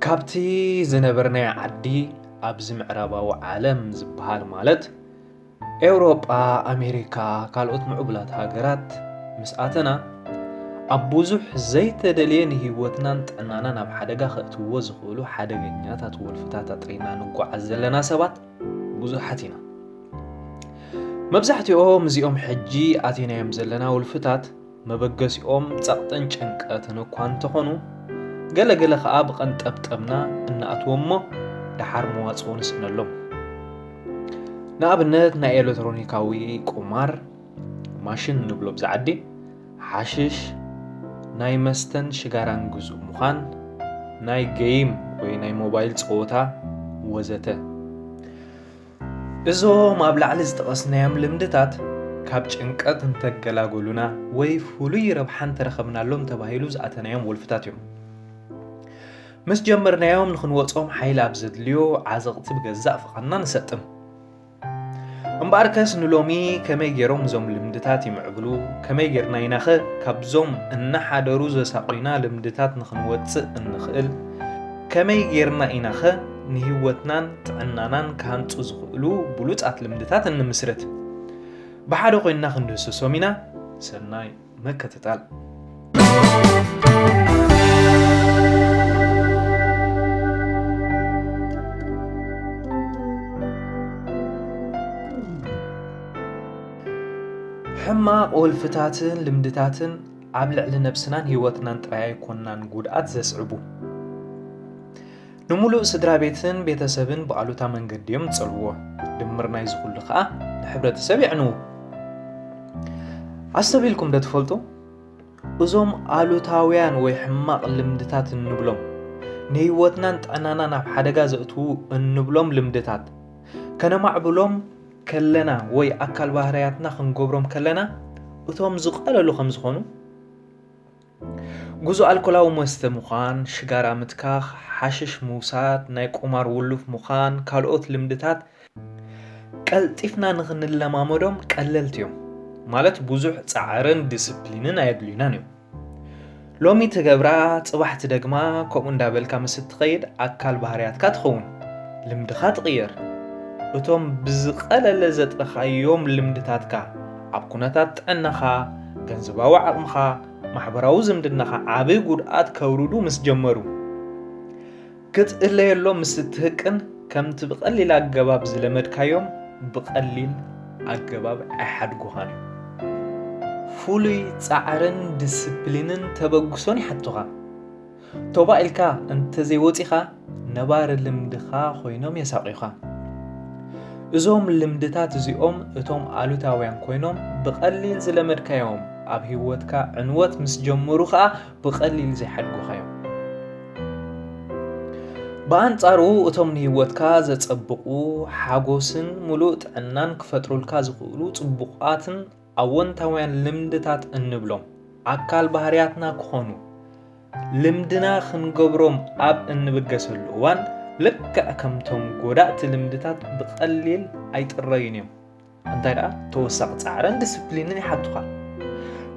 ካብቲ ዝነበርናዮ ዓዲ ኣብዚ ምዕራባዊ ዓለም ዝበሃል ማለት ኤውሮጳ ኣሜሪካ ካልኦት ምዕቡላት ሃገራት ምስ ኣተና ኣብ ብዙሕ ዘይተደልየ ንህይወትናን ጥዕናናን ኣብ ሓደጋ ከእትዎ ዝኽእሉ ሓደገኛታት ወልፍታት ኣጥሪና ንጓዓዝ ዘለና ሰባት ብዙሓት ኢና መብዛሕትኦም እዚኦም ሕጂ ኣቴናዮም ዘለና ውልፍታት መበገሲኦም ጸቕጥን ጭንቀትን እኳ እንተኾኑ፣ ገለ ገለ ከኣ ብቐንጠብጠብና እንኣትዎም'ሞ ደሓር መዋጽኦ ንስእነሎም። ንኣብነት ናይ ኤለትሮኒካዊ ቁማር ማሽን እንብሎ ኣብዛ ዓዲ፣ ሓሽሽ፣ ናይ መስተን ሽጋራን ግዙእ ምዃን፣ ናይ ገይም ወይ ናይ ሞባይል ጸወታ ወዘተ። እዞም ኣብ ላዕሊ ዝጠቐስናዮም ልምድታት ካብ ጭንቀት እንተገላገሉና ወይ ፍሉይ ረብሓ እንተረኸብናሎም ተባሂሉ ዝኣተናዮም ወልፍታት እዮም። ምስ ጀመርናዮም ንክንወጾም ሓይሊ ኣብ ዘድልዮ ዓዘቕቲ ብገዛእ ፍቓድና ንሰጥም። እምበኣር ከስ ንሎሚ ከመይ ገይሮም እዞም ልምድታት ይምዕብሉ፣ ከመይ ጌርና ኢናኸ ካብዞም እናሓደሩ ዘሳቑዩና ልምድታት ንክንወጽእ እንኽእል፣ ከመይ ጌርና ኢናኸ ንህይወትናን ጥዕናናን ክሃንጹ ዝኽእሉ ብሉጻት ልምድታት እንምስርት። ብሓደ ኮይንና ክንድህስሶም ኢና። ሰናይ ምክትታል። ሕማቕ ወልፍታትን ልምድታትን ኣብ ልዕሊ ነብስናን ህይወትናን ጥራይ ኣይኮናን ጉድኣት ዘስዕቡ ንሙሉእ ስድራቤትን ቤተሰብን ብኣሉታ መንገዲ እዮም ዝጸልዎ። ድምር ናይዚ ኩሉ ከኣ ንሕብረተሰብ የዕንዉ። ኣስተብሂልኩም ዶ ትፈልጡ? እዞም ኣሉታውያን ወይ ሕማቕ ልምድታት እንብሎም ንህይወትናን ጥዕናናን ኣብ ሓደጋ ዘእትዉ እንብሎም ልምድታት ከነማዕብሎም ከለና ወይ ኣካል ባህርያትና ክንገብሮም ከለና እቶም ዝቐለሉ ከም ዝኾኑ ጉዞ ኣልኮላዊ መስተ ምዃን፣ ሽጋራ ምትካኽ፣ ሓሽሽ ምውሳድ፣ ናይ ቁማር ውሉፍ ምዃን፣ ካልኦት ልምድታት ቀልጢፍና ንኽንለማመዶም ቀለልቲ እዮም። ማለት ብዙሕ ጻዕርን ዲስፕሊንን ኣየድልዩናን እዮም። ሎሚ ትገብራ ጽባሕ ትደግማ ከምኡ እንዳበልካ ምስ እትኸይድ ኣካል ባህርያትካ ትኸውን፣ ልምድኻ ትቕየር። እቶም ብዝቐለለ ዘጥረኻዮም ልምድታትካ ኣብ ኩነታት ጥዕናኻ ገንዘባዊ ዓቕምኻ፣ ማሕበራዊ ዝምድናኻ ዓቢ ጉድኣት ከውርዱ ምስ ጀመሩ፣ ክትእለየሎም ምስ እትህቅን ከምቲ ብቐሊል ኣገባብ ዝለመድካዮም ብቐሊል ኣገባብ ኣይሓድጉኻን እዮም። ፍሉይ ጻዕርን ድስፕሊንን ተበግሶን ይሓቱኻ። ቶባእ ኢልካ እንተዘይወጺኻ ነባሪ ልምድኻ ኮይኖም የሳቑዩኻ። እዞም ልምድታት እዚኦም እቶም ኣሉታውያን ኮይኖም ብቐሊል ዝለመድካዮም ኣብ ህይወትካ ዕንወት ምስ ጀመሩ ኸኣ ብቐሊል ዘይሓድጉኻዮም። ብኣንጻሩ እቶም ንህይወትካ ዘጸብቑ ሓጎስን ምሉእ ጥዕናን ክፈጥሩልካ ዝኽእሉ ጽቡቓትን ኣወንታውያን ልምድታት እንብሎም ኣካል ባህርያትና ክኾኑ ልምድና ክንገብሮም ኣብ እንብገሰሉ እዋን ልክዕ ከምቶም ጎዳእቲ ልምድታት ብቐሊል ኣይጥረዩን እዮም እንታይ ደኣ ተወሳኺ ፃዕርን ዲስፕሊንን ይሓቱኻ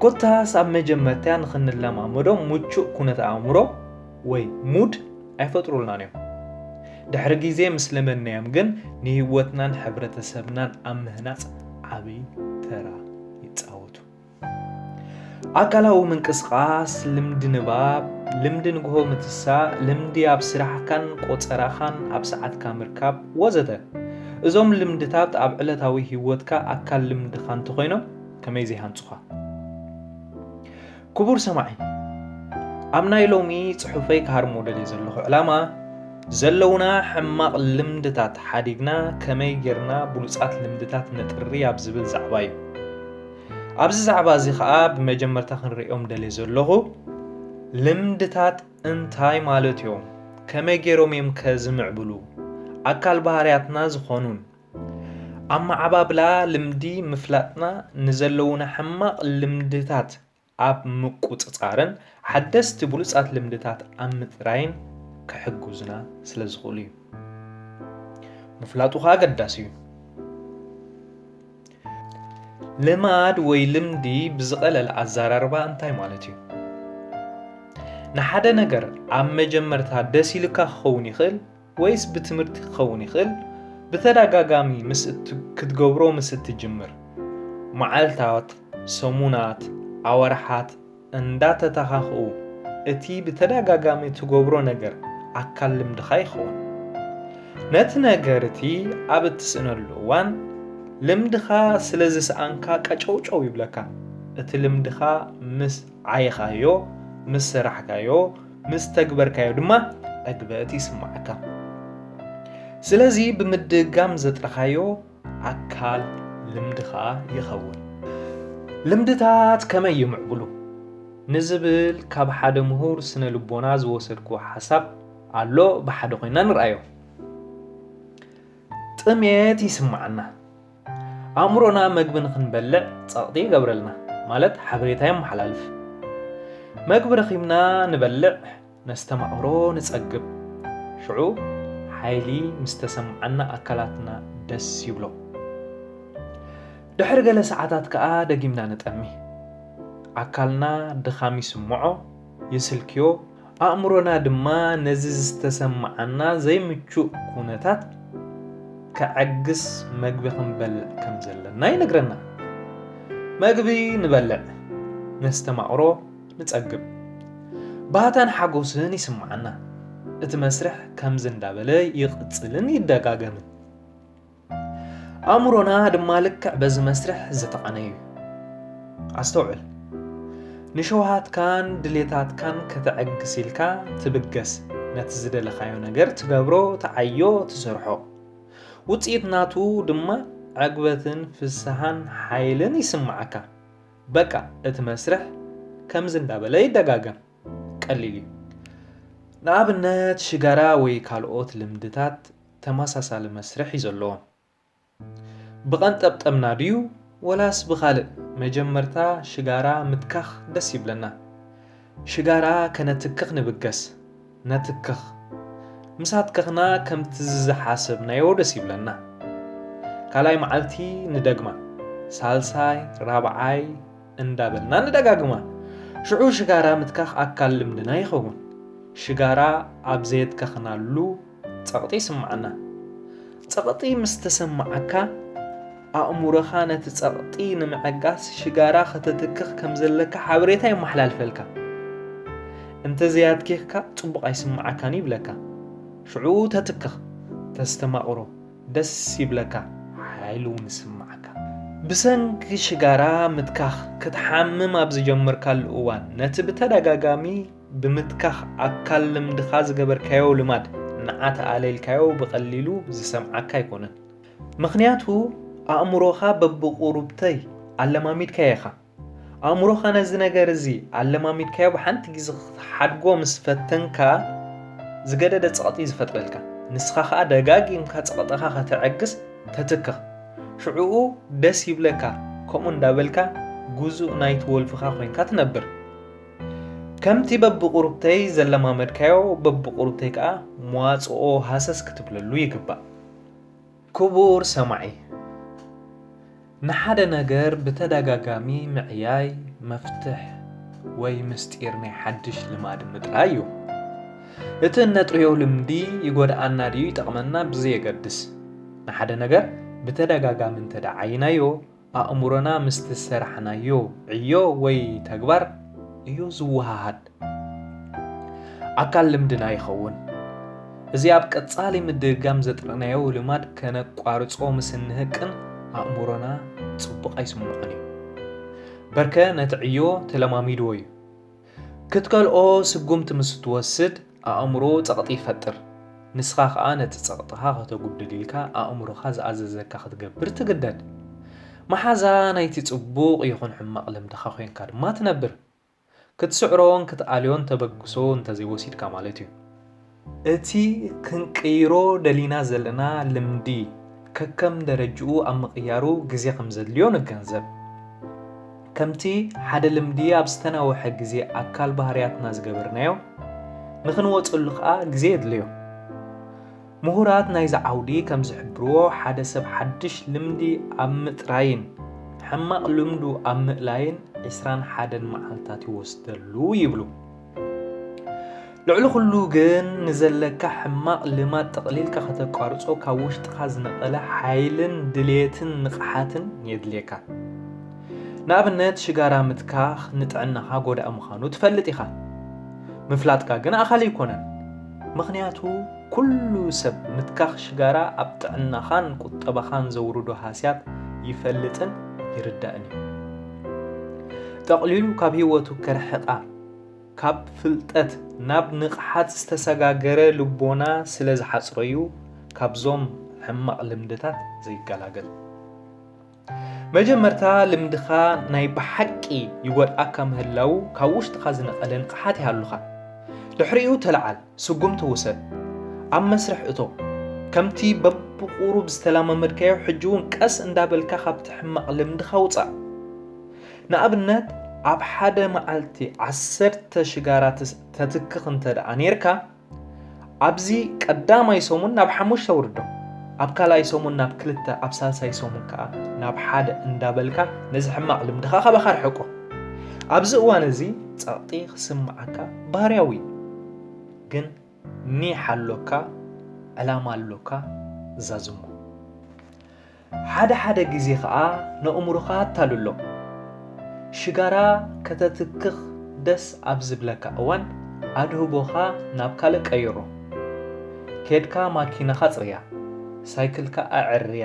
ኮታስ ኣብ መጀመርታ ንክንለማመዶም ምቹእ ኩነት ኣእምሮ ወይ ሙድ ኣይፈጥሩልናን እዮም። ድሕሪ ግዜ ምስ ለመድናዮም ግን ንህይወትናን ሕብረተሰብናን ኣብ ምህናጽ ዓቢ ተራ ይጻወቱ። ኣካላዊ ምንቅስቓስ፣ ልምዲ ንባብ፣ ልምዲ ንግሆ ምትሳእ፣ ልምዲ ኣብ ስራሕካን ቆጸራኻን ኣብ ሰዓትካ ምርካብ ወዘተ። እዞም ልምድታት ኣብ ዕለታዊ ህይወትካ ኣካል ልምድኻ እንተኾይኖም ከመይ ዘይሃንጹኻ። ክቡር ሰማዒ ኣብ ናይ ሎሚ ጽሑፈይ ክሃርሞ ደልየ ዘለኹ ዕላማ ዘለውና ሕማቕ ልምድታት ሓዲግና ከመይ ጌርና ብሉጻት ልምድታት ነጥሪ ኣብ ዝብል ዛዕባ እዩ ኣብዚ ዛዕባ እዚ ከዓ ብመጀመርታ ክንርእዮም ደልየ ዘለኹ ልምድታት እንታይ ማለት እዮም ከመይ ጌሮም እዮም ከዝምዕብሉ ኣካል ባህርያትና ዝኾኑን ኣመዓባብላ ልምዲ ምፍላጥና ንዘለዉና ሕማቕ ልምድታት ኣብ ምቁጽጻርን ሓደስቲ ብሉጻት ልምድታት ኣብ ምጥራይን ክሕግዙና ስለ ዝኽእሉ እዩ። ምፍላጡ ኸኣ ኣገዳሲ እዩ። ልማድ ወይ ልምዲ ብዝቐለለ ኣዘራርባ እንታይ ማለት እዩ? ንሓደ ነገር ኣብ መጀመርታ ደስ ኢልካ ክኸውን ይኽእል፣ ወይስ ብትምህርቲ ክኸውን ይኽእል? ብተደጋጋሚ ምስ እት ክትገብሮ ምስ እትጅምር፣ መዓልታት፣ ሰሙናት፣ ኣዋርሓት እንዳተተኻኽኡ እቲ ብተደጋጋሚ እትገብሮ ነገር ኣካል ልምድኻ ይኸውን። ነቲ ነገር እቲ ኣብ እትስእነሉ እዋን ልምድኻ ስለ ዝሰኣንካ ቀጨውጨው ይብለካ። እቲ ልምድኻ ምስ ዓየኻዮ፣ ምስ ሰራሕካዮ፣ ምስ ተግበርካዮ ድማ ዕግበት ይስማዓካ ስለዚ ብምድጋም ዘጥረኻዮ ኣካል ልምድኻ ይኸውን ልምድታት ከመይ ይምዕብሉ ንዝብል ካብ ሓደ ምሁር ስነ ልቦና ዝወሰድኩ ሓሳብ ኣሎ ብሓደ ኮይና ንርኣዮ ጥሜት ይስማዓና ኣእምሮና መግቢ ንኽንበልዕ ጸቕጢ ይገብረልና፣ ማለት ሓበሬታ የመሓላልፍ። መግቢ ረኺብና ንበልዕ፣ ነስተማቕሮ፣ ንጸግብ። ሽዑ ሓይሊ ምስ ተሰምዓና ኣካላትና ደስ ይብሎ። ድሕሪ ገለ ሰዓታት ከኣ ደጊምና ንጠሚ። ኣካልና ድኻም ይስምዖ፣ ይስልክዮ፣ ኣእምሮና ድማ ነዚ ዝተሰምዓና ዘይምቹእ ኩነታት ከዐግስ መግቢ ክንበልዕ ከም ዘለና ይነግረና። መግቢ ንበልዕ፣ ነስተማቕሮ፣ ንጸግብ። ባህታን ሓጎስን ይስምዓና። እቲ መስርሕ ከምዚ እንዳበለ ይቕጽልን ይደጋገምን። ኣእምሮና ድማ ልክዕ በዚ መስርሕ ዝተቓነ እዩ። ኣስተውዕል፣ ንሸውሃትካን ድሌታትካን ከተዐግስ ኢልካ ትብገስ፣ ነቲ ዝደለኻዮ ነገር ትገብሮ፣ ትዓዮ፣ ትሰርሖ። ውጽኢት ናቱ ድማ ዕግበትን ፍስሃን ሓይልን ይስምዓካ። በቃ እቲ መስርሕ ከምዚ እንዳበለ ይደጋገም። ቀሊል እዩ። ንኣብነት ሽጋራ ወይ ካልኦት ልምድታት ተመሳሳሊ መስርሕ እዩ ዘለዎም። ብቐንጠብጠብና ድዩ ወላስ ብኻልእ መጀመርታ ሽጋራ ምትካኽ ደስ ይብለና። ሽጋራ ከነትክኽ ንብገስ። ነትክኽ። ምስ ኣትከኽና ከምቲ ዝዝሓሰብናዮ ደስ ይብለና። ካልኣይ መዓልቲ ንደግማ። ሳልሳይ፣ ራብዓይ እንዳበልና ንደጋግማ። ሽዑ ሽጋራ ምትካኽ ኣካል ልምድና ይኸውን። ሽጋራ ኣብ ዘየትከኽናሉ። ጸቕጢ ይስምዓና። ጸቕጢ ምስ ተሰምዓካ፣ ኣእምሮኻ ነቲ ጸቕጢ ንምዕጋስ ሽጋራ ከተትክኽ ከም ዘለካ ሓበሬታ የመሓላልፈልካ። እንተ ዘያትኪኽካ ጽቡቕ ኣይስምዓካን'ዩ ይብለካ። ሽዑ ተትክኽ፣ ተስተማቕሮ፣ ደስ ይብለካ፣ ሓይሊ'ውን ይስምዓካ። ብሰንኪ ሽጋራ ምትካኽ ክትሓምም ኣብ ዝጀመርካሉ እዋን፣ ነቲ ብተደጋጋሚ ብምትካኽ ኣካል ልምድኻ ዝገበርካዮ ልማድ ንዓ ተኣለይልካዮ ብቐሊሉ ዝሰምዓካ ኣይኮነን። ምኽንያቱ ኣእምሮኻ በብቑሩብተይ ኣለማሚድካዮ ኢኻ። ኣእምሮኻ ነዚ ነገር እዚ ኣለማሚድካዮ ብሓንቲ ግዜ ክትሓድጎ ምስ ፈተንካ ዝገደደ ጸቕጢ ዝፈጥረልካ። ንስኻ ከኣ ደጋጊምካ ጸቕጥኻ ከተዕግስ ተትክኽ። ሽዑኡ ደስ ይብለካ ከምኡ እንዳበልካ ግዙእ ናይቲ ወልፍኻ ኮይንካ ትነብር። ከምቲ በብቑሩብተይ ዘለማመድካዮ በብቑሩብተይ ከኣ መዋጽኦ ሃሰስ ክትብለሉ ይግባእ። ክቡር ሰማዒ፣ ንሓደ ነገር ብተደጋጋሚ ምዕያይ መፍትሕ ወይ ምስጢር ናይ ሓድሽ ልማድ ምጥራይ እዩ። እቲ እነጥርዮ ልምዲ ይጎድኣና ድዩ ይጠቕመና ብዘየገድስ፣ ንሓደ ነገር ብተደጋጋሚ እንተደኣ ዓይይናዮ፣ ኣእምሮና ምስ ዝሰራሕናዮ ዕዮ ወይ ተግባር እዩ ዝወሃሃድ። ኣካል ልምድና ይኸውን። እዚ ኣብ ቀጻሊ ምድግጋም ዘጥረናዮ ልማድ ከነቋርጾ ምስ እንህቅን ኣእምሮና ጽቡቕ ኣይስምዖን እዩ። በርከ ነቲ ዕዮ ተለማሚድዎ እዩ። ክትከልኦ ስጉምቲ ምስ እትወስድ፣ ኣእምሮ ጸቕጢ ይፈጥር፣ ንስኻ ከኣ ነቲ ጸቕጥኻ ከተጉድል ኢልካ ኣእምሮኻ ዝኣዘዘካ ክትገብር ትግደድ። መሓዛ ናይቲ ጽቡቕ ይኹን ሕማቕ ልምድኻ ኮይንካ ድማ ትነብር። ክትስዕሮን ክትኣልዮን ተበግሶ እንተዘይወሲድካ ማለት እዩ። እቲ ክንቅይሮ ደሊና ዘለና ልምዲ ከከም ደረጅኡ ኣብ ምቕያሩ ግዜ ከምዘድልዮ ንገንዘብ። ከምቲ ሓደ ልምዲ ኣብ ዝተናውሐ ግዜ ኣካል ባህርያትና ዝገበርናዮ፣ ንኽንወጸሉ ከኣ ግዜ የድልዮ። ምሁራት ናይዚ ዓውዲ ከም ዝሕብርዎ፣ ሓደ ሰብ ሓድሽ ልምዲ ኣብ ምጥራይን ሕማቕ ልምዱ ኣብ ምእላይን ዕስራን ሓደን መዓልታት ይወስደሉ ይብሉ። ልዕሊ ኩሉ ግን ንዘለካ ሕማቕ ልማድ ጠቕሊልካ ከተቋርጾ ካብ ውሽጥኻ ዝነቐለ ሓይልን ድሌትን ንቕሓትን የድልየካ። ንኣብነት ሽጋራ ምትካኽ ንጥዕናኻ ጎዳኢ ምዃኑ ትፈልጥ ኢኻ። ምፍላጥካ ግን ኣኻሊ ኣይኮነን። ምኽንያቱ ኩሉ ሰብ ምትካኽ ሽጋራ ኣብ ጥዕናኻን ቁጠባኻን ዘውርዶ ሃስያት ይፈልጥን ይርዳእን እዩ። ጠቕሊሉ ካብ ህይወቱ ከርሕቃ ካብ ፍልጠት ናብ ንቕሓት ዝተሰጋገረ ልቦና ስለ ዝሓጽሮ'ዩ ካብዞም ሕማቕ ልምድታት ዘይገላገል። መጀመርታ ልምድኻ ናይ ብሓቂ ይጎድኣካ ምህላዉ ካብ ውሽጥኻ ዝነቐለ ንቕሓት ይሃሉኻ። ድሕሪኡ ተለዓል። ስጉምቲ ውሰድ፣ ኣብ መስርሕ እቶ። ከምቲ በብቑሩብ ዝተላማመድካዮ ሕጂ'ውን ቀስ እንዳበልካ ካብቲ ሕማቕ ልምድኻ ውጻእ። ንኣብነት ኣብ ሓደ መዓልቲ ዓሰርተ ሽጋራ ተትክኽ እንተድኣ ኔርካ፣ ኣብዚ ቀዳማይ ሰሙን ናብ ሓሙሽተ ኣውርዶ፣ ኣብ ካልኣይ ሰሙን ናብ ክልተ፣ ኣብ ሳልሳይ ሰሙን ከኣ ናብ ሓደ እንዳበልካ ነዚ ሕማቕ ልምድኻ ካባኻ ኣርሕቆ። ኣብዚ እዋን እዚ ጸቕጢ ክስምዓካ ባህርያዊ'ዩ። ግን ኒሕ ኣሎካ ዕላማ ኣሎካ ዛዝሞ። ሓደ ሓደ ግዜ ከኣ ነእምሮኻ ኣታልሎ። ሽጋራ ከተትክኽ ደስ ኣብ ዝብለካ እዋን ኣድህቦኻ ናብ ካልእ ቀይሮ። ኬድካ ማኪናኻ ኣጽርያ፣ ሳይክልካ ኣዐርያ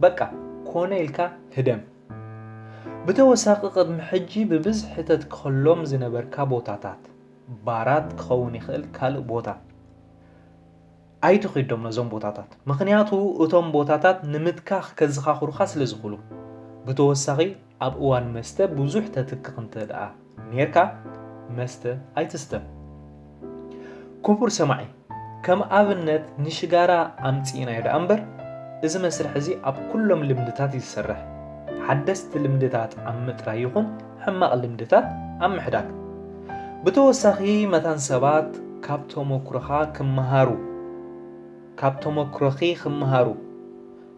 በቃ ኮነ ኢልካ ህደም። ብተወሳኺ ቅድሚ ሕጂ ብብዝሒ ተትከሎም ዝነበርካ ቦታታት፣ ባራት ክኸውን ይኽእል ካልእ ቦታ ኣይትኺዶም ነዞም ቦታታት ምኽንያቱ እቶም ቦታታት ንምትካኽ ከዝኻኽሩኻ ስለ ዝኽሉ ብተወሳኺ ኣብ እዋን መስተ ብዙሕ ተትክኽ እንተ ደኣ ኔርካ መስተ ኣይትስተ ኩቡር ሰማዒ ከም ኣብነት ንሽጋራ ኣምጺእናዮ ደኣ እምበር፣ እዚ መስርሕ እዚ ኣብ ኩሎም ልምድታት እዩ ዝሰርሕ። ሓደስቲ ልምድታት ኣብ ምጥራይ ይኹን ሕማቕ ልምድታት ኣብ ምሕዳግ። ብተወሳኺ መታን ሰባት ካብ ተሞክሮኻ ክመሃሩ ካብ ተሞክሮኺ ክመሃሩ።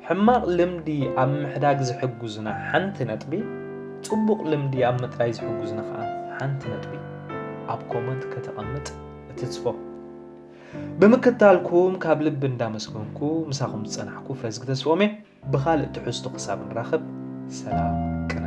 ሕማቕ ልምዲ ኣብ ምሕዳግ ዝሕግዙና ሓንቲ ነጥቢ፣ ጽቡቕ ልምዲ ኣብ ምጥራይ ዝሕግዙና ከኣ ሓንቲ ነጥቢ ኣብ ኮመንት ከተቐምጥ እትጽፎ። ብምክታልኩም ካብ ልቢ እንዳመስገንኩ ምሳኹም ዝጸናሕኩ ፍረዝጊ ተስፎምየ። ብኻልእ ትሕዝቶ ክሳብ ንራኸብ ሰላም ቅነ።